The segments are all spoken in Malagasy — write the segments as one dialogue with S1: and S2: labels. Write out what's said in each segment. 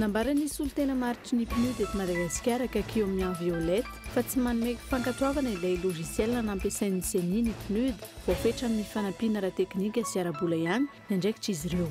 S1: Nambaran'ny solontena maritry ny PNUD eto Madagasikara, Kakio Mian Violette, fa tsy manome fankatoavana ilay logiciel nampiasain'ny ceni ny PNUD, voafetra amin'ny fanampiana ara-teknika sy ara-bola ihany ny andraikitr'izy ireo.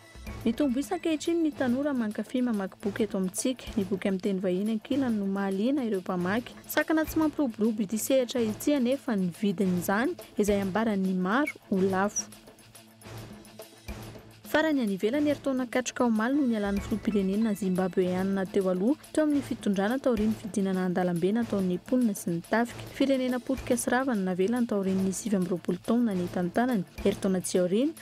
S1: Mitombo isa ankehitriny ny tanora mankafy mamaky boky eto amintsika. Ny boky amin'ny teny vahiny ankilany no mahaliana ireo mpamaky. Sakana tsy mampiroborobo ity sehatra ity anefa ny vidin'izany, izay ambaran'ny maro ho lafo. Farany, any ivelany, herintaona katroka omaly no nialan'ny filoham-pirenena Zimbabeanina teo aloha, teo amin'ny fitondrana taorian'ny fidinana an-dalambe nataon'ny mponina sy ny tafika. Firenena potika sy rava no navelany taorian'ny sivy amby roapolo taona nitantanany, herintaona tsy aoriana,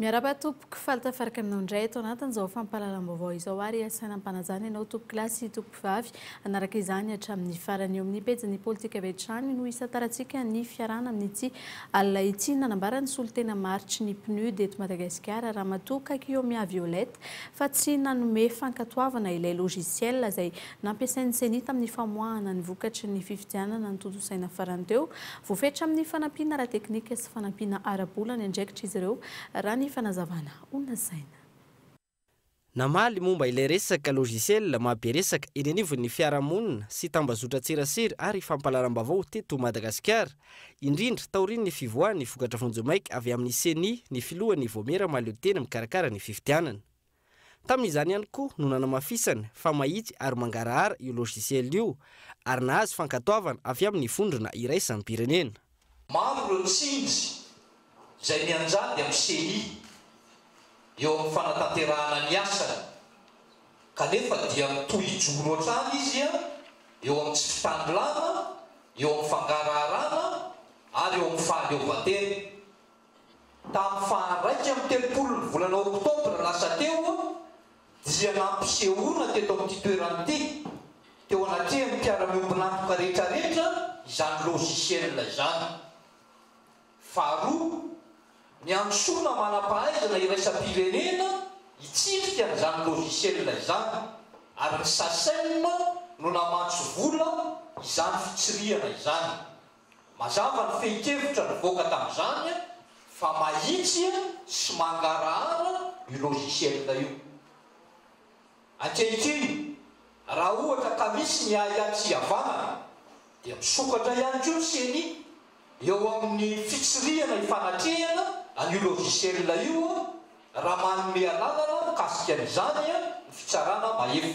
S1: Miarahaba tompoko, faly tafaraka aminao indray eto anatin'izao fampahalalam-baovao izao ary asaina ampanajana ianao tompokolahy sy tompokovavy hanaraka izany hatramin'ny farany. Eo amin'ny pejin'ny politika avy hatrany no isantarantsika ny fiarahana amin'ity alina ity, nanambara ny solontena maritry ny PNUD eto Madagasikara Ramatoa Kakiomiaviolette fa tsy nanome fankatoavana ilay logiciel izay Nampiasain'ny Ceni tamin'ny famoahana ny vokatry ny fifidianana notontosaina farany teo. Voafetra amin'ny fanampiana ara-teknika sy fanampiana ara-bola ny andraikitra izy ireo, raha ny fanazavana ho lazaina.
S2: Namaly momba ilay resaka logiciel mahabe resaka eny anivon'ny fiarahamonina sy tambazotran-tserasera ary fampahalalam-baovao teto Madagasikara, indrindra taorian'ny fivoahan'ny vokatra vonjimaika avy amin'ny Ceni ny filohan'ny Vaomiera Mahaleotena mikarakara ny fifidianana. Tamin'izany ihany koa no nanamafisany fa mahitsy ary mangarahara io logiciel io ary nahazo fankatoavana avy amin'ny vondrona iraisam-pirenena. Maro ireo
S3: tsindry izay mianjady amin'ny Ceni eo amin'ny fanatanterahana ny asany kanefa dia mitohy hijoro hatrany izy eo amin'ny tsy fitanilana, eo amin'ny fangaraharana ary eo amin'ny fahaleovantena. Tamin'ny faha iraika amby telopolon'ny volana oktobra lasa teo dia nampisehoana teto amin'ity toerana ity, teo anatrehan'ny mpiara-miombon'antoka rehetrarehetra izany logiciel izany. Faharoa, niantsoana manam-pahaizana iraisam-pirenena hitsirika an'izany logiciel izany ary ny Sacem no namatsy vola izany fitsirihana izany. Mazava ny fehin-kevitra nivoaka tamin'izany fa mahitsy sy mangarahara io logiciel io. Ankehitriny, raha ohatra ka misy ny ahiahy tsy hihavanana dia misokatra ihany koa ny ceni eo amin'ny fitsirihana ifanatrehana an'io logiciel io raha manome alalana mikasika an'izany ny Fitsarana Mahefa.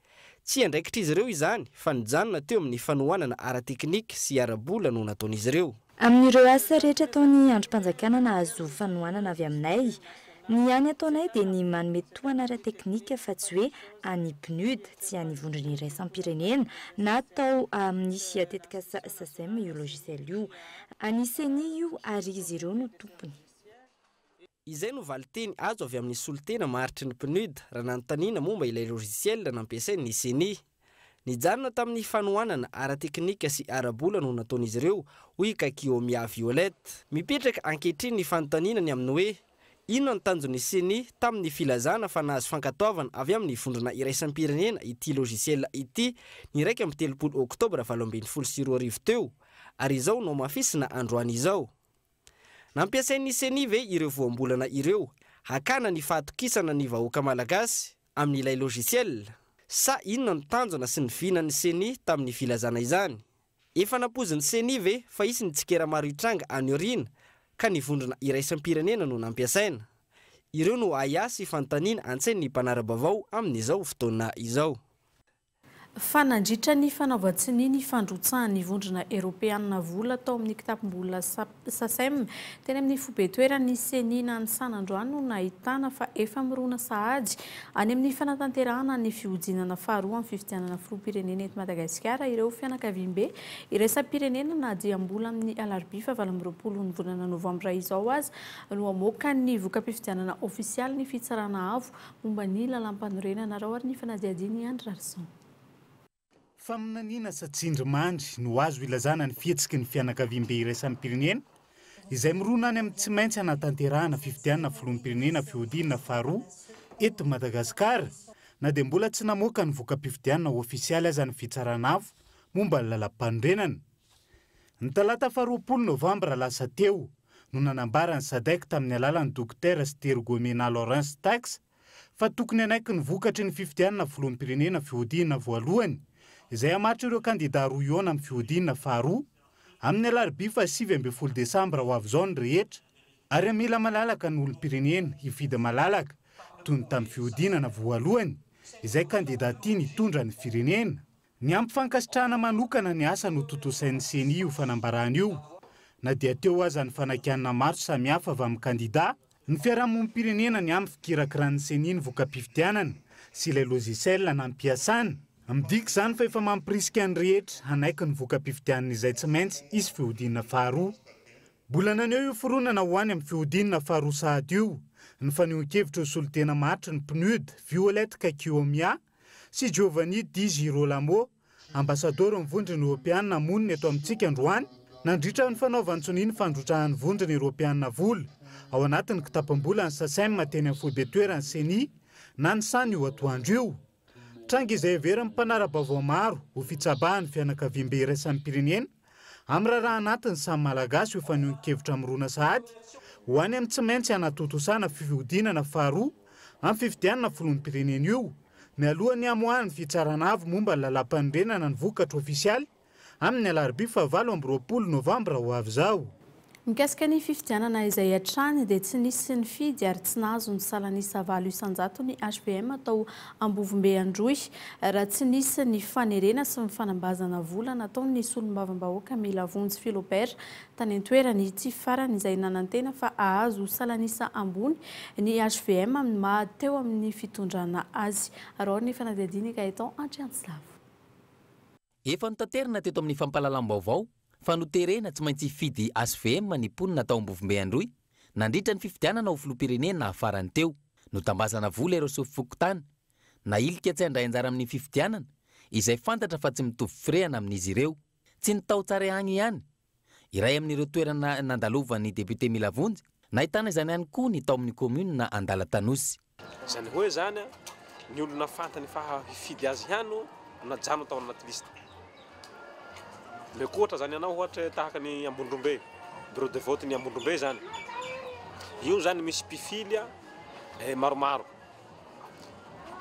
S2: Tsy andraikitr'izy ireo izany fa nijanona teo amin'ny fanohanana ara-teknika sy ara-bola no nataon'izy ireo. Amin'ireo asa
S4: rehetra ataon'ny andrim-panjakana nahazo fanohanana avy aminay, ny hany ataonay dia ny manome tohana ara-teknika fa tsy hoe an'ny PNUD, tsy an'ny vondrona iraisam-pirenena, na atao amin'ny tetikasa Sacem io logiciel io. An'ny ceni io ary izy ireo no tompony.
S2: Izay no valinteny azo avy amin'ny solontena maharitry ny PNUD raha nanontaniana momba ilay logiciel nampiasain' ny Ceni. Nijanona tamin'ny fanohanana ara-teknika sy ara-bola no nataon'izy ireo, hoy i Kaikiomia Violet. Mipetraka ankehitriny ny fanontaniana ny amin'ny hoe inona ny tanjon'ny Ceni tamin'ny filazana fa nahazo fankatoavana avy amin'ny vondrona iraisam-pirenena ity logiciel ity ny iraika amby telopolo Oktobra valo ambin'ny folo sy roa arivo teo ary izao nohamafisina androany izao. Nampiasain'ny Ceni ve ireo voambolana ireo hakana ny fahatokisana ny vahoaka Malagasy amin'ilay logiciel? Sa inona no tanjona sy ny vinan'ny Ceni tamin'ny filazana izany? Efa nampoizin'ny Ceni ve fa hisy ny tsikera maro hitranga any aoriana ka ny vondrona iraisam-pirenena no nampiasaina? Ireo no ahiahy sy fanontaniana antsain'ny mpanara-baovao amin'izao fotoana izao. Fa
S1: nandritra ny fanaovan-tsonia ny fandrotsahan'ny Vondrona Eropeanina vola tao amin'ny kitapom-bola Sacem, teny amin'ny foibe-toeran'ny Ceni Nanisana androany no nahitana fa efa mirona sahady any amin'ny fanatanterahana ny fihodinana faharoa amin'ny fifidianana filoham-pirenena eto Madagasikara ireo fianakaviambe iraisam-pirenena na dia mbola amin'ny alarobia fahavalo amby roapolo ny volana novambra izao aza no hamoaka ny voka-pifidianana ofisialy ny Fitsarana Avo Momba ny lalampanorenanarao ary ny fanadihadiany i Andry Rarison. Faminaniana
S5: sa tsindrimandry no azo ilazana ny fihetsiky ny fianakaviambe iraisam-pirenena izay mirona any amin'ny tsy maintsy hanatanterahana fifidianana filoham-pirenena fihodinana faharoa eto Madagasikara na dia mbola tsy namoaka ny voka-pifidianana ofisialy aza ny Fitsarana Avo momba ny Lalampanorenana Ny talata faharoapolo novambra lasa teo no nanambara ny Sadec tamin'ny alalan'ny Dokotera Sitero Guemena Lawrence Tax fa tokony hanaiky ny vokatry ny fifidianana filoham-pirenena fihodinana voalohany izay hamaritra ireo kandida roa hihaona amin'ny fihodinana faharoa amin'ny alarobia fahasivy ambin'ny folo desambra ho avy izao ny rehetra ary mila malalaka ny olom-pirenena hifidy malalaka toy ny tamin'ny fihodinana voalohany izay kandida tiany hitondra ny firenena Ny ampy fankasitrahana manokana ny asa notontosain'ny Ceni io fanambarana io, na dia teo aza ny fanakianana maro samihafa avy amin'ny kandida, ny fiarahamonim-pirenena ny amin'ny fikirakiràn'ny Ceni ny voka-pifidianana sy ilay logiciel nampiasàna. Midika izany fa efa mampirisika ny rehetra hanaiky ny voka-pifidianana izay tsy maintsy hisy fihodinana faharoa. Mbola naneho io fironana ho any amin'ny fihodinana faharoa sahady io ny fanehoan-kevitra ho solontena maharitra ny PNUD, Violet Kakiomia, sy Giovanni Di Girolamo, ambasadaoron'ny Vondrona Eoropeana monina eto amintsika androany, nandritra ny fanaovan-tsonia ny fandrotrahan'ny Vondrona Eoropeana vola ao anatin'ny kitapom-bolan'ny Sacem teny amin'ny foibe toeran'ny Ceni, na ny San io atoandro io. Tranga izay heverin'ny mpanara-baovao maro ho fitsabahan'ny fianakaviambe iraisampirenena, Amin'ny raharaha anatin'ny samy Malagasy io fanehoan-kevitra mirona sahady ho any amin'ny tsy maintsy hanatontosana fihodinana faharoa amin'ny fifidianana filoham-pirenena io, mialoha ny hamoahan'ny Fitsarana Avo momba ny Lalàmpanorenana ny vokatra ofisialy amin'ny alarobia fahavalo amby roapolo novambra ho avy izao. Mikasika ny
S1: fifidianana izay hatrany dia tsy nisy nifidy ary tsy nahazo ny salan'isa valo isan-jato ny HVM tao Ambovombe Androy raha tsy nisy ny fanerena sy ny fanambazana vola nataon'ny solombavambahoaka Melavonjy Philobert tany an-toerana. Ity farany izay nanantena fa hahazo salan'isa ambony ny HVM amin'ny maha teo amin'ny fitondrana azy. Araho ny fanadihadian'i Gaëtan Andriantsilavo.
S6: Efa notaterina teto amin'ny fampahalalam-baovao fa noterena tsy maintsy hifidy HVM ny mponina tao Ambovombe Androy nandritra ny fifidianana ho filoham-pirenena farany teo. Notambazana vola ireo sefom-pokontany nahilika tsy handray anjara amin'ny fifidianana izay fantatra fa tsy mitovy firehana amin'izy ireo. Tsy ny tao Tsarehaigny ihany iray amin'ireo toerana nandalovan'ny député Milavonjy, nahitana izany ihany koa ny tao amin'ny kaominina Andalatanosy. Izany hoe
S7: izany, ny olona fantany fa hifidy azy ihany no najanony tao anaty liste. Omeko ohatra izany ianao ohatra tahaka ny Ambondrombe, bureau de vote-n'i Ambondrombe izany. Io izany misy mpifily maromaro.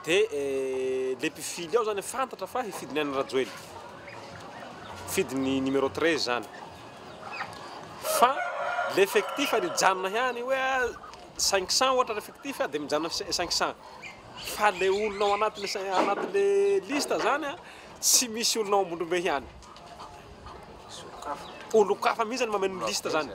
S7: Dia ilay mpifily ao izany fantatra fa hifidy ny an'i Rajoelina. Hifidy ny numéro treize izany. Fa ilay effectif dia hijanona ihany hoe cinq cents ohatra ny effectif dia mijanona cinq cents. Fa ilay olona ao anatin'ilay anatin'ilay liste izany tsy misy olona ao Ambondrombe ihany. Olon-kafa mihitsy no mameno ny liste izany.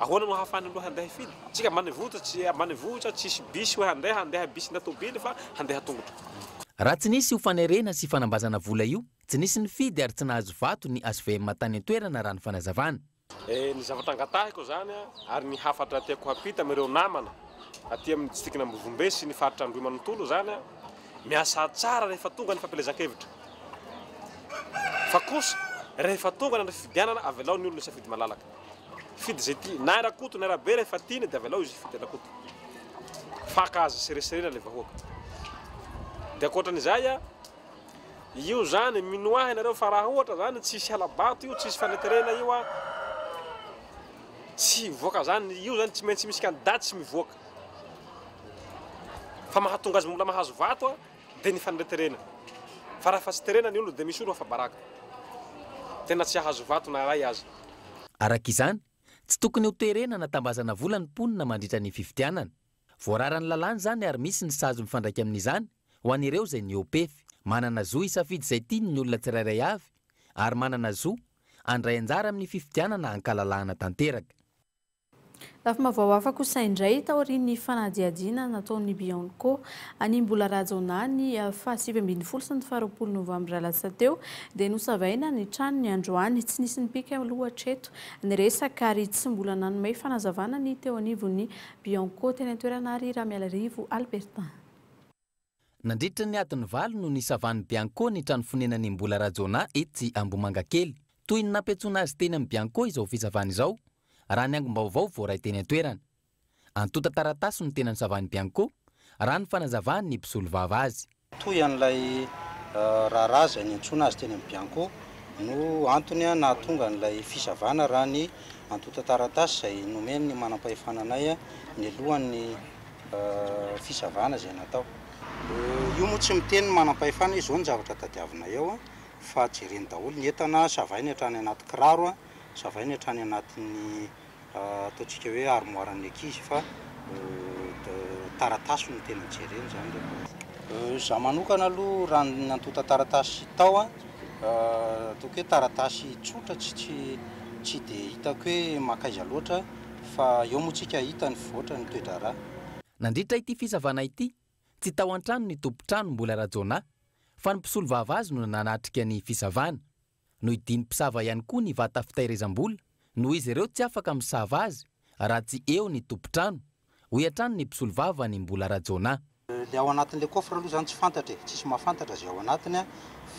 S7: Ahoana no ahafahana aloha handeha hifidy? Tsika ambanivohitra tsy ambanivohitra tsisy bisy hoe handeha handeha bisy na tobily fa handeha tongotra. Raha tsy nisy
S6: io fanerena sy fanambazana vola io, tsy nisy nifidy ary tsy nahazo vato ny HVM tany an-toerana raha ny fanazavana. Ny zavatra
S7: angatahiko izany ary ny hafatra tiako hampita amin'ireo namana aty amin'ny distrikan' Ambovombe sy ny faritra Androhimanontolo izany, miasà tsara rehefa tonga ny fampielezan-kevitra fa kosa rehefa tonga ny andro fifidianana avelao ny olona hisafidy malalaka. Fidy izay tia. Na i Rakoto na Rabe rehefa tiany dia avelao izy hifidy an'Rakoto. Faka azy sereserena ilay vahoaka. Dia ankoatran'izay a, io izany mino ahy ianareo fa raha ohatra izany tsy hisy hala-bato io, tsy hisy faneterena io a, tsy hivoaka izany. Io izany tsy maintsy misy kandidà tsy mivoaka. Fa mahatonga azy mbola mahazo vato a. Dia ny faneriterena. Fa raha fa tsy terena ny olona dia misy olo afa-baraka. Tena tsy hahazo vato na iray aza. Araka izany,
S6: tsy tokony ho terena na tambazana vola ny mponina mandritra ny fifidianana. Voararan'ny lalàna izany ary misy ny sazy mifandraika amin'izany ho an'ireo izay niopefy. Manana zo hisafidy izay tiany ny olona tsirairay avy ary manana zo handray anjara amin'ny fifidianana hankalalahana tanteraka.
S1: Lafim-baovao hafa kosa indray, taorian'ny fanadihadiana nataon'ny Bianco an'i Mbola Rajaonah ny faha sivy ambin'ny folo sy ny faha roapolo novambra lasa teo, dia nosavaina ny tranony androany. Tsy nisy nipika aloha hatreto ny resaka ary tsy mbola nanome fanazavana ny teo anivon'ny Bianco teny an-toerana àry Ramialarivo Albertin.
S6: Nandritra ny adiny valo no nisavan'ny Bianco ny trano fonenan'i Mbola Rajaonah etsy Ambohimangakely. Toy ny nampiantsoana azy teny amin'ny Bianco izao fisavana izao, raha ny angom-baovao voaray teny an-toerana. Antontan-taratasy no tena nisavan'ny Bianco, raha ny fanazavan'ny mpisolovava azy. Toy an'ilay
S8: raharaha izay niantsoana azy teny amin'ny Bianco no antony nahatonga an'ilay fisavana, raha ny antontan-taratasy izay nomen'ny manam-pahefana anay nialohan'ny fisavana izay natao. Io moa tsy miteny ny manam-pahefana hoe izao ny zavatra tadiavinay ao fa jereny daholo ny entana, savainy hatrany anaty kiraro, savainy hatrany anatin'ny ataontsika hoe armoiran'ny ankizy fa taratasy no tena jereny izany rehefa. Izaho manokana aloha raha ny antontan-taratasy tao ataoko hoe taratasy tsotra tsy tsy tsy dia hitako hoe mankaiza loatra. fa eo moa tsika hahita ny voatra ny toe-draharaha. Nandritra ity
S6: fisavana ity, tsy tao an-trano ny tompon-trano Mbola Rajaonah fa ny mpisolovava azy no nanatrika ny fisavana. Nohidian'ny mpisava ihany koa ny vata fitahirizam-bola noho izy ireo tsy afaka misava azy raha tsy eo ny tompon-trano, hoy hatrany ny mpisolovava ny Mbola Rajaonah. Le ao anatin'le
S8: coffre aloha zany tsy fantatra e, tsisy mahafantatra ze ao anatiny a,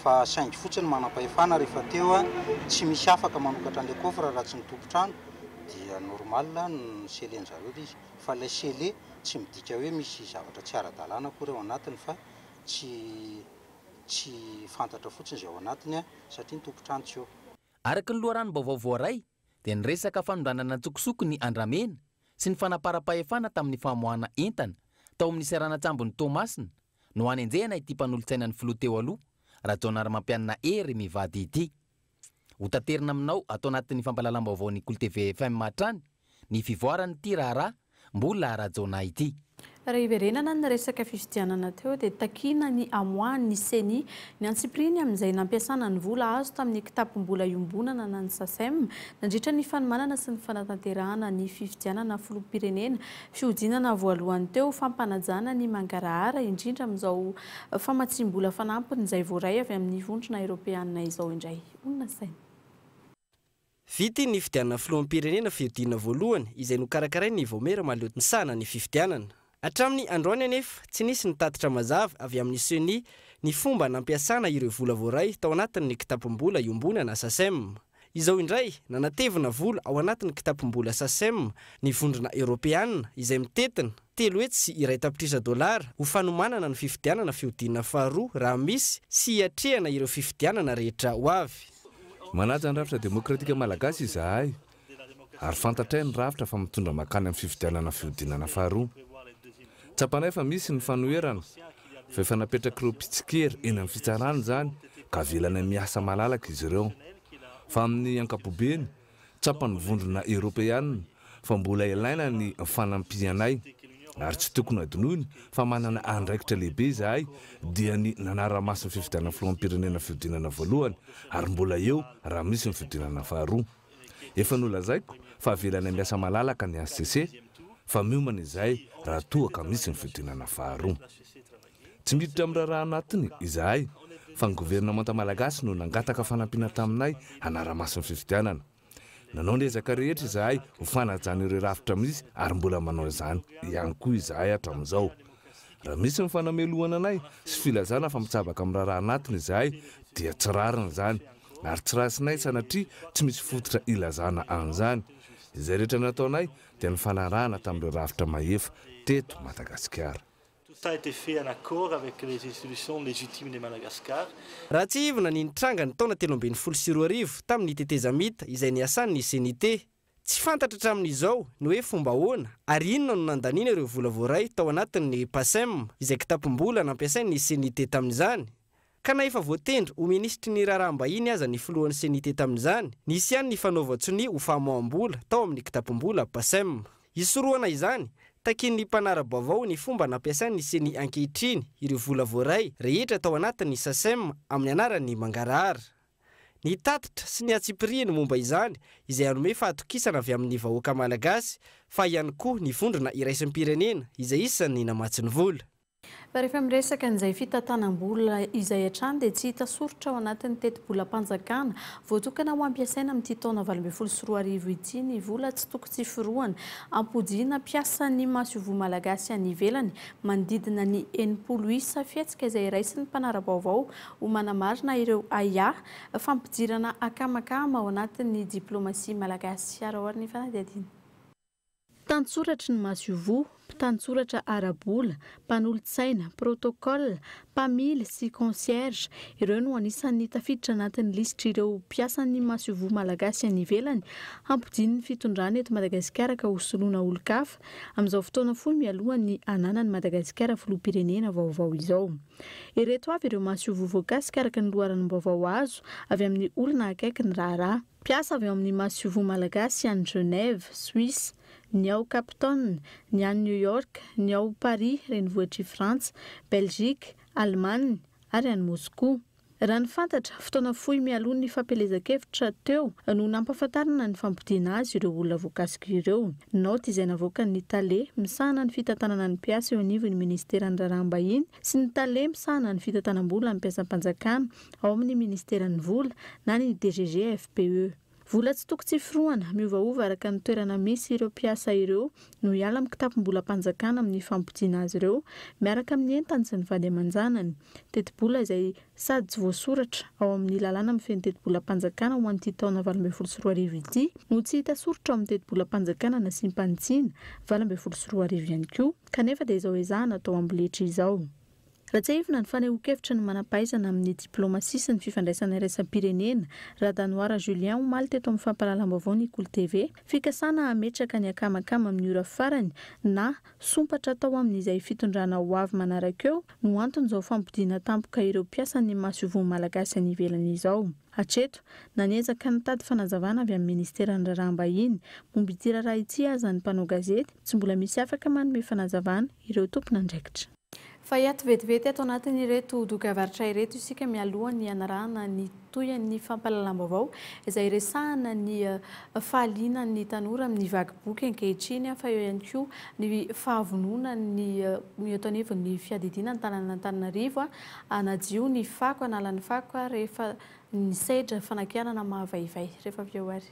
S8: fa saingy fotsiny manampahefana rehefa teo a, tsy misy afaka manokatra an'le coffre raha tsy ny tompon-trano, dia normal ny scellé-ny zareo le izy, fa ilay scellé tsy midika hoe misy zavatra tsy ara-dalàna akory ao anatiny fa tsy tsy fantatra fotsiny ze ao anatiny a, satria ny tompon-trano tsy eo. Araka ny
S6: loharanom-baovao voaray, dia ny resaka fanondranana an-tsokosoko ny andramena sy ny fanamparam-pahefana tamin'ny famoahana entana tao amin'ny seranan-tsambon'i Toamasina no hanenjehana ity mpanolotsainan'ny filoha teo aloha Rajaonarimampianina Hery mivady ity. Hotaterina aminao ato anatin'ny fampahalalam-baovaon'ny KolTv FM hatrany ny fivoaran'ity raharaha Mbola Rajaonah ity. Raha hiverenana
S1: ny resaka fifidianana teo dia takiana ny hamoahan'ny Ceni ny antsipiriany amin'izay nampiasana ny vola azo tamin'ny kitapom-bola iombonana na ny Sacem nandritra ny fanomanana sy ny fanatanterahana ny fifidianana filoham-pirenena fihodinana voalohany teo fampanajana ny mangarahara indrindra amin'izao famatsiam-bola fanampiny izay voaray avy amin'ny vondrona eropeanina izao indray ho nasaina
S2: Vita iny nifidianana filoham-pirenena fihodinana voalohany izay nokarakarain'ny Vaomiera mahaleo misahana ny fifidianana. Hatramin'ny androany anefa, tsy nisy ny tatitra mazava avy amin'ny Ceni ny fomba nampiasana ireo vola voaray tao anatin'ny kitapom-bola iombonana Sacem. Izao indray, nanatevina vola ao anatin'ny kitapom-bola Sacem ny Vondrona Eoropeana izay mitentina telo hetsy sy iray tapitrisa dolara ho fanomanana ny fifidianana fihodinana faharoa raha misy sy hiatrehana ireo fifidianana rehetra ho avy. Manaja ny
S9: rafitra demokratika malagasy izahay ary fantatray ny rafitra fa mitondra mankany amin'ny fifidianana fihodinana faharoa. Tsapanay fa misy ny fanoherana fa efa napetrak'ireo mpitsikera eny amin'ny fitsarana izany ka avelanay miasa malalaka izy ireo fa amin'ny ankapobeny Tsapan'ny Vondrona Eoropeana fa mbola ilaina ny fanampianay ary tsy tokony hadinoina fa manana andraikitra lehibe izahay dia ny nanara-maso ny fifidianana filoham-pirenena fihodinana voalohany ary mbola eo raha misy ny fihodinana faharoa. Efa nolazaiko fa avelanay miasa malalaka ny hcc fa miomana izahay raha toa ka misy ny fihodinana faharoa. Tsy miditra amin'ny raharaha anatiny izahay fa ny governemanta malagasy no nangataka fanampiana taminay hanara-maso ny fifidianana. Nanao ny ezaka rehetra izahay ho fanajana ireo rafitra misy ary mbola manao izany ihany koa izahay hatramin'izao. Raha misy ny fanamelohana anay sy filazana fa mitsabaka amin'ny raharaha anatiny izahay dia tsy rariny izany ary tsy raisinay sanatria tsy misy fototra ilazana an'izany. Izay rehetra nataonay dia ny fanarahana tamin'ireo rafitra mahefa teto Madagasikara. Tout ça était
S10: fait en accord avec les institutions légitimes de Madagascar. Raha tsiahivina
S2: ny nitranga ny taona telo ambin'ny folo sy roa arivo tamin'ny tetezamita izay niasan'ny CNIT. Tsy fantatra hatramin'izao ny hoe fomba ahoana ary inona no nandaniana ireo vola voaray tao anatin'ny PACEM izay kitapom-bola nampiasain'ny CNIT tamin'izany Ka na efa voatendry ho minisitry ny raharaham-bahiny aza ny filohan'ny CNIT tamin'izany, nisy ihany ny fanaovan-tsonia ho famoaham-bola tao amin'ny kitapom-bola PACEM. Hisorohana izany, takian'ny mpanara-baovao ny fomba nampiasain'ny ceni ankehitriny ireo vola voaray rehetra tao anatin'ny SACEM amin'ny anaran'ny mangarahara. Ny tatitra sy ny antsipirihiny momba izany izay hanome fahatokisana avy amin'ny vahoaka malagasy fa ihany koa ny vondrona iraisampirenena izay isan'ny namatsy ny vola. Fa rehefa
S1: miresaka an'izay fitantanam-bola izay hatrany dia tsy hita soritra ao anatin'ny tetibolam-panjakana voatokana ho ampiasaina amin'ity taona valo ambin'ny folo sy roa arivo ity ny vola tsy toko tsy firohana ampodiana mpiasan'ny masoivoho malagasy any ivelany manodidina ny enimpolo isa fihetsika izay raisin'ny mpanara-baovao ho manamarina ireo ahiahy fampidirana akamakama ao anatin'ny diplaomasia malagasy. Araho ary ny fanadihadiana. Mpitantsoratry ny masoivoho, mpitantsoratra ara-bola, mpanolotsaina, protocole, mpamily sy concierge, ireo no anisan'ny tafiditra anatin'ny lisitr'ireo mpiasan'ny masoivoho malagasy any ivelany hampodian'ny fitondrana eto Madagasikara ka hosoloana olon-kafa amin'izao fotoana fohy mialohan'ny hananan'i Madagasikara filoham-pirenena vaovao izao. Ireto avy ireo masoivoho voakasika araka ny loharanom-baovao azo avy amin'ny olona akaiky ny raharaha. Mpiasa avy ao amin'ny Masoivoho Malagasy any Genève, Suisse, ny ao Cape Town, ny any New York, ny ao Paris renivohitr'i Frantsa, Belgique, Allemagne ary any Moscou. Raha ny fantatra, fotoana fohy mialoha ny fampielezan-kevitra teo no nampahafantarana ny fampodiana azy ireo olona voakasika ireo. Naoty izay navoakan'ny Tale misahana ny fitantanana ny mpiasa eo anivon'ny Ministeran'ny Raharaham-bahiny sy ny Tale misahana ny fitantanam-bola ny mpiasam-panjakana ao amin'ny Ministeran'ny Vola na ny DGGFPE. Vola tsy toko tsy forohana, miovaova araka ny toerana misy ireo mpiasa ireo no hiala amin'ny kitapom-bolam-panjakana amin'ny fampodiana azy ireo miaraka amin'ny entany sy ny vady aman-janany. Tetibola izay sady tsy voasoratra ao amin'ny lalàna mifehy ny tetibolam-panjakana ho an'ity taona valo ambin'ny folo sy roa arivo ity no tsy hita soritra ao amin'ny tetibolam-panjakana nasiam-panitsiana valo ambin'ny folo sy roa arivo ihany koa kanefa dia izao ezahana atao amboletra izao. Raha tsiahivina ny fanehoan-kevitry ny manam-pahaizana amin'ny diplaomasia sy ny fifandraisana iraisam-pirenena, Radanoara Julien omaly teto amin'ny fampahalalam-baovao Nikouly TV, fikasana hametraka ny akamakama amin'ny ora farany na sompatra atao amin'izay fitondrana ho avy manaraka eo no anton'izao fampodiana tampoka ireo mpiasan'ny masoivoho malagasy any ivelany izao. Hatreto, na niezaka nitady fanazavana avy amin'ny Ministeran'ny Raharaham-bahiny momba ity raharaha ity aza ny mpanao gazety, tsy mbola misy afaka manome fanazavana ireo tompon'andraikitra. Fa hiato vetivety ato anatin'ireto dokavaritra ireto isika mialoha ny hanarahana ny tohin'ny fampahalalam-baovao izay resahana ny fahalianan'ny tanora amin'ny vaky boky ankehitriny fa eo ihany koa ny fahavononany eto anivon'ny fiadidiana antananan'Antananarivo hanadio ny fako, hanala ny fako rehefa ny sedra fanakianana mahavaivay. Rehefa avy eo ary.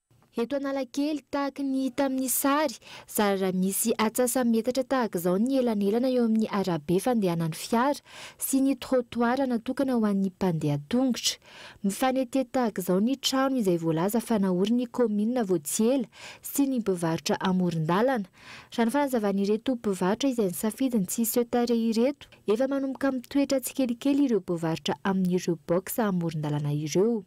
S4: Eto Analakely, tahaka ny hita amin'ny sary, zara raha misy atsasa-metatra tahaka izao ny elanelana eo amin'ny arabe fandehanan'ny fiara sy ny trottoir natokana ho an'ny mpandeha tongotra. Mifanetety tahaka izao ny trano izay voalaza fa naorin'ny kaominina vao tsy ela sy ny mpivarotra amoron-dalana. Raha ny fanazavan'ireto mpivarotra izay nisafidy ny tsy hiseho tarehy ireto, efa manomboka mitoetra tsikelikely ireo mpivarotra amin'ireo box amoron-dalana ireo.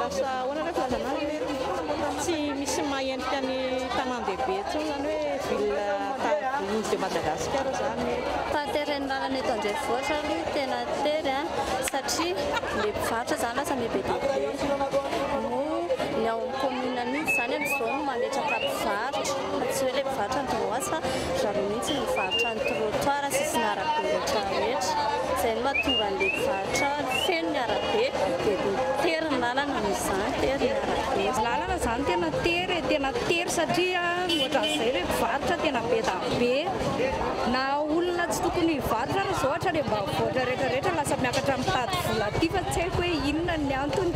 S11: Lasa ahoana ilay filazanao hoe tsy misy maha endrika ny tanàn-dehibe intsony izany hoe ville tahak'izao de Madagasikara izany. Tateren'ny lalana
S12: eto an-drenivohitra aloha tena tery satria ilay mpivarotra izany lasa be dia be moa ny ao amin'ny commune mihitsy izany amin'izao no mametraka mpivarotra fa tsy hoe ilay mpivarotra an-dranomasy fa ry zareo mihitsy no mivarotra ny trottoir, sisin'arabe rehetra rehetra izay no mahatonga an'ilay mpivarotra Trano feno ny arabe dia tery ny lalana noho izany tery ny arabe. Ny lalana
S11: izany tena tery e,
S12: tena
S11: tery satria ny ohatran'izay
S12: hoe
S11: mpivarotra tena be da be, na olona tsy tokony hivarotra aza zao ohatra any ambanivohitra rehetra rehetra lasa miakatra mitady vola aty fa tsy haiko hoe inona ny antony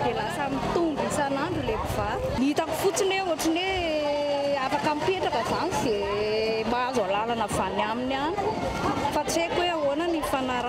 S11: dia lasa mitombo isan'andro ilay mpivaro. Ny hitako fotsiny hoe ohatran'ny hoe afaka mipetraka izany izay mahazo alalana avy any aminy any fa tsy haiko hoe ahoana ny fanarahana.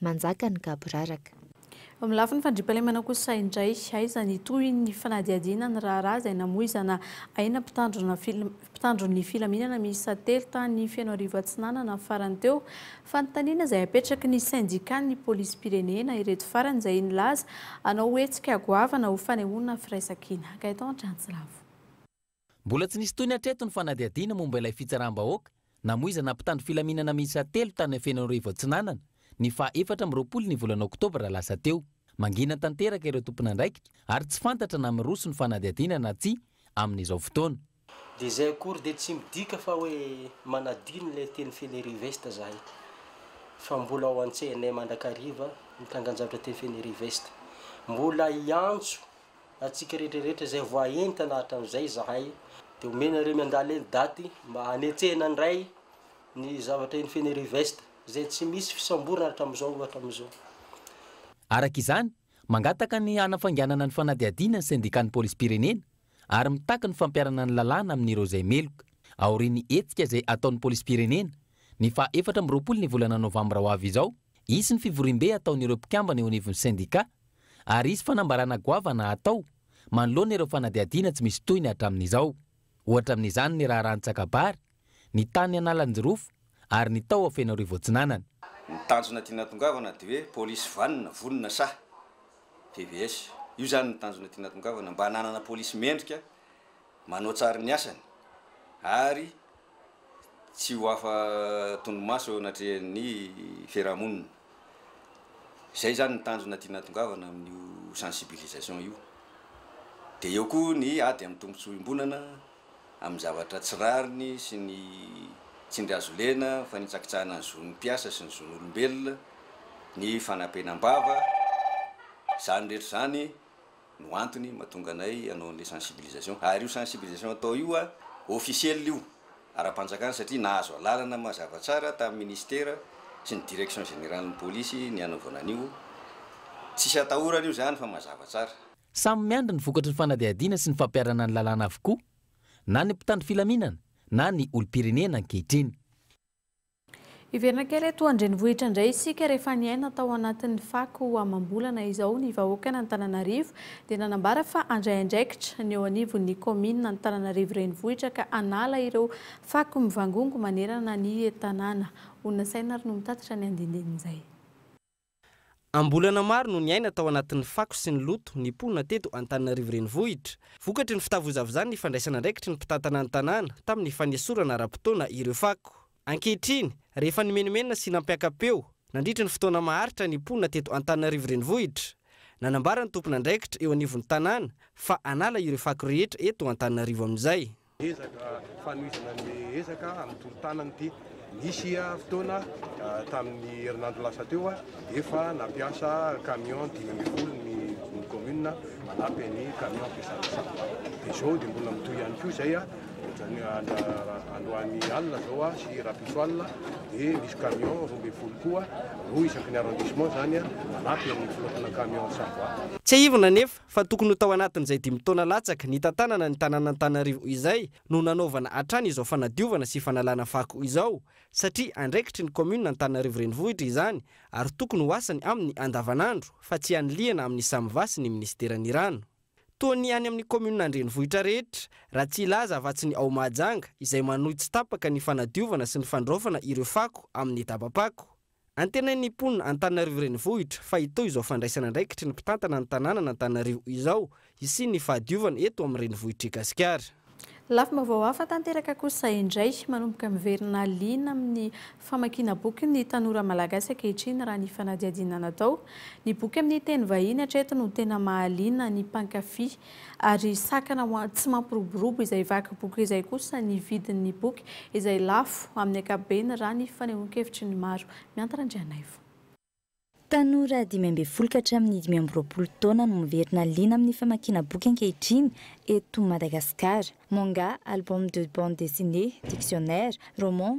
S4: Manjaka ny gaboraraka. Eo amin'ny lafiny
S1: fandriampahalemana kosa indray, aiza ny tohin'ny fanadihadiana ny raharaha izay namoizana aina mpitandron'ny filaminana miisa telo tany Fenoarivo Atsinanana farany teo? Fanontaniana izay apetraky ny sendikan'ny polisim-pirenena ireto farany izay nilaza hanao hetsika goavana ho fanehoana firaisankina. Gaëtan Antranjilavo. Mbola
S6: tsy nisy tohiny hatreto ny fanadihadiana momba ilay fitsaram-bahoaka namoizana mpitandro filaminana miisa telo tany Anfenoarivo Atsinanana, ny faha efatra amby roapolo ny volana oktobra lasa teo. Mangina tanteraka ireo tompon'andraikitra ary tsy fantatra na miroso ny fanadihadiana na tsia amin'izao fotoana. Dia izay akory
S13: dia tsy midika fa hoe manadino ilay teny Fenerive-Est izahay, fa mbola ao an-tsainay mandrakariva ny tangan-jaotra teny Fenerive-Est. Mbola hiantso antsika rehetra rehetra izay voaentana hatramin'izay izahay dia omenareo miandala eny daty mba hanetsehana indray ny zavatra eny Fenerive-Est izay tsy misy fisamborana hatramin'izao ohatra amin'izao.
S6: Araka izany, mangataka ny hanafainganana ny fanadihadiana ny Sendikan'ny Polisim-pirenena ary mitaky ny fampiharana ny lalàna amin'ireo izay meloka, aorian'ny hetsika izay ataon'ny Polisim-pirenena, ny faha efatra amby roapolo ny volana novambra ho avy izao, hisy ny fivoriambe hataon'ireo mpikambana eo anivon'ny sendika. ary hisy fanambarana goavana hatao manoloana ireo fanadihadiana tsy misy tohiny hatramin'izao. Ohatra amin'izany ny raharaha Antsakabary, ny tany Analanjirofo ary ny tao Fenoarivo Atsinanana. Ny tanjona
S3: tiana atongavana dia hoe polisy vanona, vonona sahy. PVS. Io izany no tanjona tiana atongavana mba hananana polisy mendrika, manao tsary ny asany ary. tsy ho afa tondromaso eo anatrehan'ny fiarahamonina. Izay izany ny tanjona tiana atongavana amin'io sensibilisation io. Dia eo koa ny ady amin'ny tombontsoa iombonana, amin'ny zavatra tsy rariny sy ny tsindry azo lena, ny fanitsakitsahana ny zon'ny mpiasa sy ny zon'olombelona, ny fanapenam-bava, izany rehetra izany. no antony mahatonga anay hanao an'ilay sensibilisation. Ary io sensibilisation atao io a, officiel io, ara-panjakana satria nahazo alalana mazava tsara tamin'ny ministera sy ny direction générale-n'ny polisy ny hanaovana an'io. Tsisy atahorana io izany fa mazava tsara. Samy miandry ny
S6: vokatry ny fanadihadiana sy ny fampiharana ny lalàna avokoa na ny mpitandro filaminana na ny olom-pirenena ankehitriny.
S1: Hiverina kely eto an-drenivohitra indray isika rehefa niaina tao anatin'ny fako amam-bolana izao ny vahoakan'Antananarivo dia nanambara fa handray andraikitra ny eo anivon'ny kaominina Antananarivo renivohitra ka hanala ireo fako mivangongo manerana ny tanàna. Ho nasaina ary no mitatitra ny andinindininy izay. Am-bolana
S2: maro no niaina tao anatin'ny fako sy ny loto ny mponina teto Antananarivo Renivohitra. Vokatry ny fitavozavozan' ny fandraisana andraikitry ny mpitantana ny tanàna tamin'ny fanesorana ara-potoana ireo fako. Ankehitriny, rehefa nimenomenona sy nampiaka-peo nandritry ny fotoana maharitra ny mponina teto Antananarivo Renivohitra, nanambara ny tompon'andraikitra eo anivon'ny tanàna fa hanala ireo fako rehetra eto Antananarivo amin'izay. Ezaka
S5: fanohizana ny ezaka amin'ny tolo-tanana ity. Nisy fotoana tamin'ny herinandro lasa teo, efa nampiasa camion dimy ambin'ny folo ny ny commune manampy an'ny camion ampiasana sahana. Dia izao dia mbola mitohy ihany koa izay, ohatran'ny androany alina izao sy rahampitso alina dia misy camion roa ambin'ny folo koa, roa isaky ny arrondissement izany, manampy amin'ny filoatana camion Savoie. Tsiahivina anefa
S2: fa tokony ho tao anatin'izay dimy taona latsaka nitantanana ny tanàn'Antananarivo izay no nanaovana hatrany izao fanadiovana sy fanalana fako izao satria andraikitry ny kaominina Antananarivo Renivohitra izany ary tokony ho asany amin'ny andavanandro fa tsy anilihana amin'ny Samva sy ny minisiteran'ny rano. Toa ny any amin'ny kaominina an-drenivohitra rehetra, raha tsy hilaza afa-tsy ny ao Mahajanga izay manohy tsy tapaka ny fanadiovana sy ny fandraofana ireo fako amin'ny dabam-pako. Antenain'ny mponina Antananarivo Renivohitra fa hitohy izao fandraisana andraikitry ny mpitantana ny tanànan'Antananarivo izao hisian'ny fahadiovana eto amin'ny renivohitr'i Gasikara.
S1: Lafim-baovao hafa tanteraka kosa indray, manomboka miverina liana amin'ny famakiana boky ny tanora malagasy ankehitriny raha ny fanadihadiana natao. Ny boky amin'ny teny vahiny hatreto no tena mahaliana ny mpankafy Ary sakana ho tsy mampiroborobo izay vaky boky izay kosa ny vidin'ny boky izay lafo amin'ny ankapobeny raha ny fanehoan-kevitry ny maro. Miantatra Andrianaivo.
S4: Tanora dimy ambin'ny folo ka hatramin'ny dimy amby roapolo taona no miverina liana amin'ny famakiana boky ankehitriny eto Madagasikara. Manga, album de bande dessinée, dictionnaire, roman,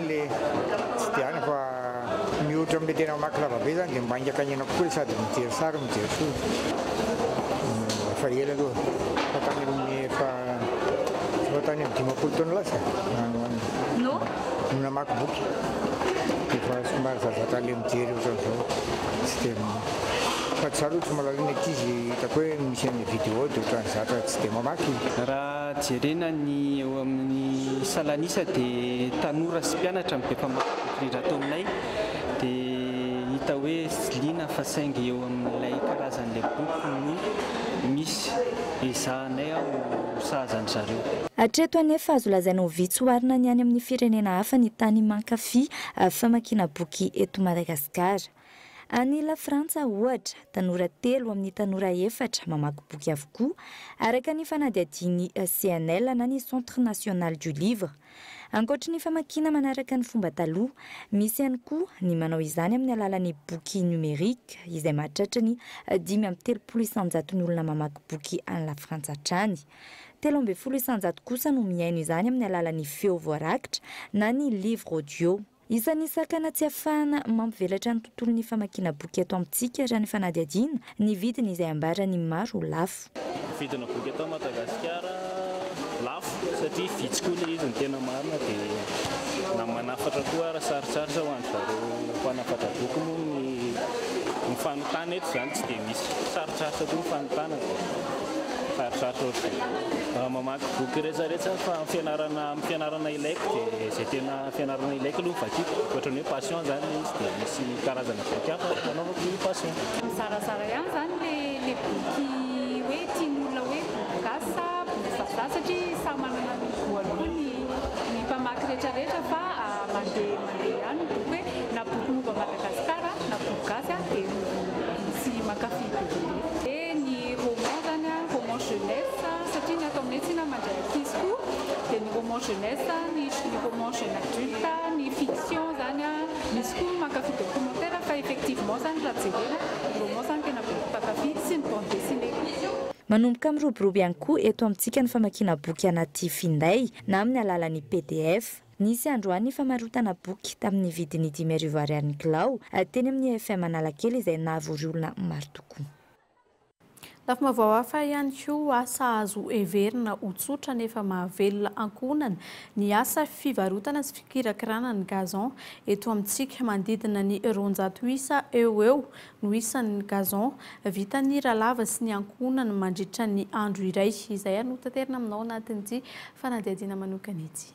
S7: le tsy de any fa mihoatra amle tena mamaky lavabe zany de maingaka ny aina kokoa le sady mijery sary no mijery soa efa ela aloha fa tany aminy efa efa tany am dimampolo taona lasa no no namaky boky efa somary zazaka le mijery ohatran'izao tsy de fa tsy zah aloha tsy mahalala ny ankizy hitako hoe misy any vidéo de ohatran'ny zatra tsy de mamaky Jerena
S8: ny eo amin'ny salan'isa dia tanora sy mpianatra no be mpamaky boky indrindra ato aminay dia hita hoe tsy liana fa saingy eo amin'ilay karazan'ilay boky no misy. Ezahanay ho sahaza an-dry zareo. Hatreto anefa
S4: azo lazaina ho vitsy oharina ny any amin'ny firenena hafa ny tany mankafy famakiana boky eto Madagasikara. Any La Frantsa, ohatra, tanora telo amin'ny tanora efatra mamaky boky avokoa, araka ny fanadihadian'ny CNL na ny Centre National du Livre. Ankoatry ny famakiana manaraka ny fomba taloha, misy ihany koa ny manao izany amin'ny alalan'ny boky numérique, izay mahatratra ny dimy amby telopolo isanjaton'ny olona mamaky boky any La Frantsa hatrany. Telo ambin'ny folo isanjato kosa no mihaino izany amin'ny alalan'ny feo voarakitra na ny livre audio. Isan'ny sakana tsy ahafahana mampivelatra ny tontolon'ny famakiana boky eto amintsika raha ny fanadihadiana ny vidiny izay ambaran'ny maro ho lafo. Ny vidina boky eto
S8: Madagasikara lafo satria vitsy koa ilay izy ny tena marina dia na manafatra koa ary sarotsarotra ho an'ny zareo mpanafatra boky moa ny ny fanontana eto izany tsy dia misy sarotsarotra koa ny fanontana dia sarotsarotra ohatr'izay raha mamaky boky rehetrarehetra fa amin'ny fianarana amin'ny fianarana ilaiko dia izay tena Fianarana ilaiko aloha ny vakiko, ohatra ny hoe passion zany izy dia misy karazana boky hafa anaovako ny passion. Mizarazara ihany
S9: zany le le boky hoe tian'olona hoe boky gasy sa boky vazaha satria samy manana ny goût-ny koa ny ny mpamaky retraretra fa mandeha mandeha ihany ny boky hoe na boky momba Madagascar na boky gasy a de tsy mankafy be dia be. Dia ny roman zany a roman jeunesse satria ny ato aminay tsinona mandray ankizy koa dia ny roman jeunesse ny ny roman jeune adulte, ny fiction izany, misy koa mankafy documentaire fa effectivement izany raha jerena ny roman izany tena boky mpankafy sy ny bande dessinée koa. Manomboka
S4: miroborobo ihany koa eto amintsika ny famakiana boky anaty finday na amin'ny alalan'ny pdf. Nisy androany ny famarotana boky tamin'ny vidiny dimy arivo Ariary ny kilao teny amin'ny IFM Analakely izay nahavory olona maro tokoa.
S1: Lafim-baovao hafa ihany koa, asa azo heverina ho tsotra nefa mahavelona ankohonana, ny asa fivarotana sy fikirakirana ny gazon. Eto amintsika, manodidina ny roanjato isa eo ho eo no isan'ny gazon vitan'ny ralava sy ny ankohonana mandritra ny andro iray, izay ary no hotaterina aminao anatin'ity fanadihadiana manokana ity.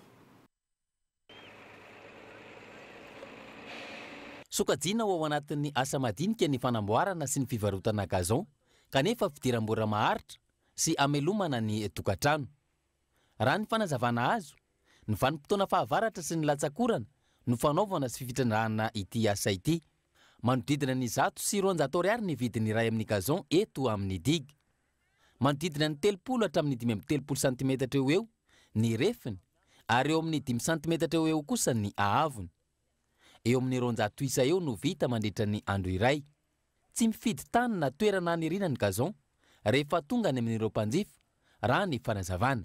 S6: Sokajiana ho ao anatin'ny asa madinika ny fanamboarana sy ny fivarotana gazon, kanefa fidiram-bola maharitra sy hamelomana ny tokantrano. Raha ny fanazavana azo, ny vanim-potoana fahavaratra sy ny latsakorana no fanaovana sy fitrandrahana ity asa ity. Manodidina ny zato sy roanjato ariary ny vidiny iray amin'ny gazon eto amin'ny digue. Manodidina ny telopolo hatramin'ny dimy amby telopolo santimetatra eo ho eo ny refiny ary eo amin'ny dimy santimetatra eo ho eo kosa ny haavony. Eo amin'ny roanjato isa eo no vita mandritra ny andro iray. Tsy mifidy tany na toerana haniriana ny gazon rehefa tonga any amin'ireo mpanjifa, raha ny fanazavana.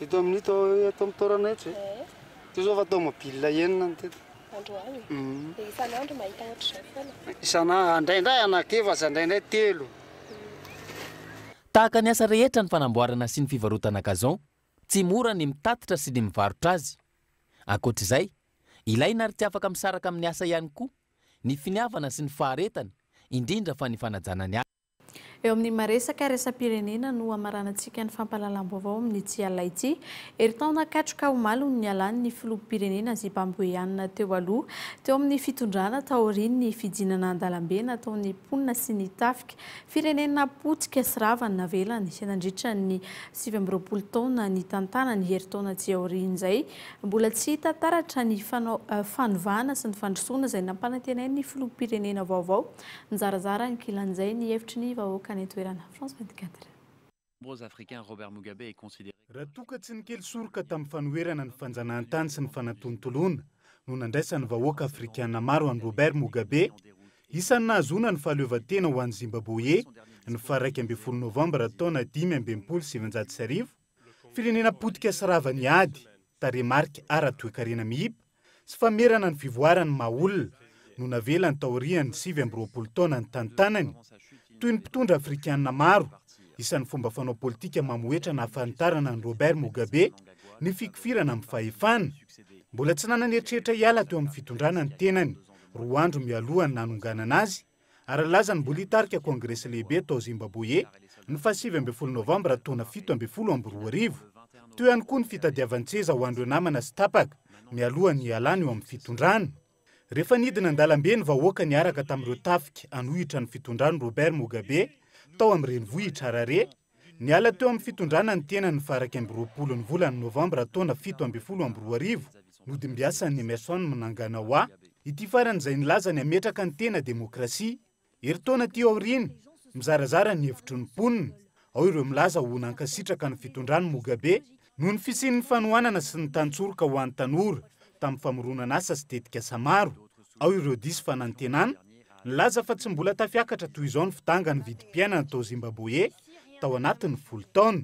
S14: Eto amin'ny to
S15: eto amin'ny taorana eto e. Ity izao fa tomobile enina ny teto. Androany. Mm. Dia
S14: isan'andro mahita ohatr'izay foana. Isana indraindray
S15: anak'efatra, indraindray telo.
S6: Tahaka ny asa rehetra ny fanamboarana sy ny fivarotana gazon, tsy mora ny mitatitra sy ny mivarotra azy. Ankoatr'izay, ilaina ary tsy afaka misaraka amin'ny asa ihany koa ny finiavana sy ny faharetana, indrindra fa ny fanajana ny asa. Eo amin'ny
S1: maresaka resa-pirenena no hamaranantsika ny fampahalalam-baovao amin'ity alina ity. Herintaona katroka omaly no nialany ny filoham-pirenena zibamboeanina teo aloha, teo amin'ny fitondrana taorian'ny fidinana an-dalambe nataon'ny mponina sy ny tafika firenena potika sy rava navelany nandritra ny sivy amby roapolo taona nitantanany. Herintaona aty aorian'izay, mbola tsy hita taratra ny fanovana sy ny fandrosoana izay nampanantenain'ny filoham-pirenena vaovao. Nizarazara ankilan'izay ny hevitry ny vahoaka any an-toerana. France
S16: 24. Raha toa ka tsy ny kely soroka tamin'ny fanoherana ny fanjanahantany sy ny fanatontoloana no nandraisan'ny vahoaka afrikana maro an'i Robert Mugabe, isan'ny nahazoana ny fahaleovantena ho an'i Zimbaboe ny faha iraika ambin'ny folo novambra taona dimy amby enimpolo sy sivinjato sy arivo, firenena potika sy rava ny ady, tarehimarika ara-toekarena miiba, Tsy famerana ny fivoaran'ny maha olona no navelany taorian'ny sivy amby roapolo taona nitantanany, toy ny mpitondra afrikana maro, isan'ny fomba fanao politika mamohehitra nahafanitarana an'i Robert Mugabe, ny fikofirana amin'ny fahefana. Mbola tsy nanana eritreritra hiala teo amin'ny fitondrana ny tenany, roa andro mialoha ny nanonganana azy, Ara-lalàzan'ny Mbolim-pitarika Kongresy Lehibe tao Zimbaboye, ny fahasivy ambin'ny folo Novambra taona fito ambin'ny folo amby roa arivo. Teo ihany koa ny fitadiavan-tseza ho an'ireo namana sy tapaka mialoha ny hialany eo amin'ny fitondrana. Rehefa nidina an-dalambe ny vahoaka niaraka tamin'ireo tafika hanohitra ny fitondran'i Robert Mugabe tao amin'ny renivohitr'i Harare, Niala teo amin'ny fitondrana ny tenany ny faha iraika amby roapolo ny volana novambra taona fito ambin'ny folo amby roa arivo, nodimbiasan'i Emmerson Mnanganawa, ity farany izay nilaza ny hametraka ny tena demokrasia. Herintaona aty aoriana, mizarazara ny hevitry ny mponina, ao ireo milaza ho nankasitraka ny fitondran'i Mugabe Noho ny fisian'ny fanohanana sy ny tantsoroka ho an'ny tanora tamin'ny famoronan'asa sy tetikasa maro, ao ireo diso fanantenana nilaza fa tsy mbola tafiakatra toy izao ny fidangan'ny vidim-piainana tao Zimbaboe tao anatin'ny folo taona.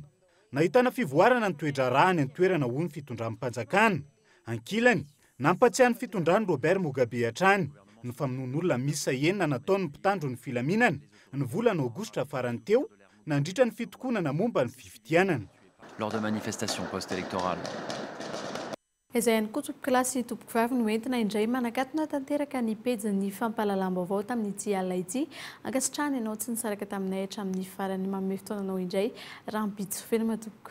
S16: Nahitana fivoarana ny toe-draharaha any an-toerana hoy ny fitondram-panjakana. Ankilany, Nampatsiahy ny fitondran'i Robert Mugabe hatrany ny famonoan'olona miisa enina nataon'ny mpitandro ny filaminana ny volana Aogositra farany teo nandritra ny fitokonana momba ny fifidianana. lors de
S17: manifestations post-électorales.
S1: Izay ihany koa tompoko lahy sy tompoko vavy no entina indray manakatona tanteraka ny pejin'ny fampahalalam-baovao tamin'ity alina ity. Ankasitrahana ianao tsy nisaraka taminay hatramin'ny farany. Manome fotoananao indray rahampitso. Veloma tompoko.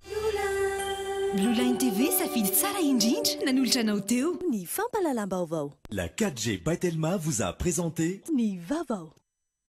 S18: Blueline TV safidy tsara indrindra nanolotra anao teo. Ny
S19: fampalalam-baovao. La 4G by
S18: Telma
S19: vous a présenté. Ny vaovao.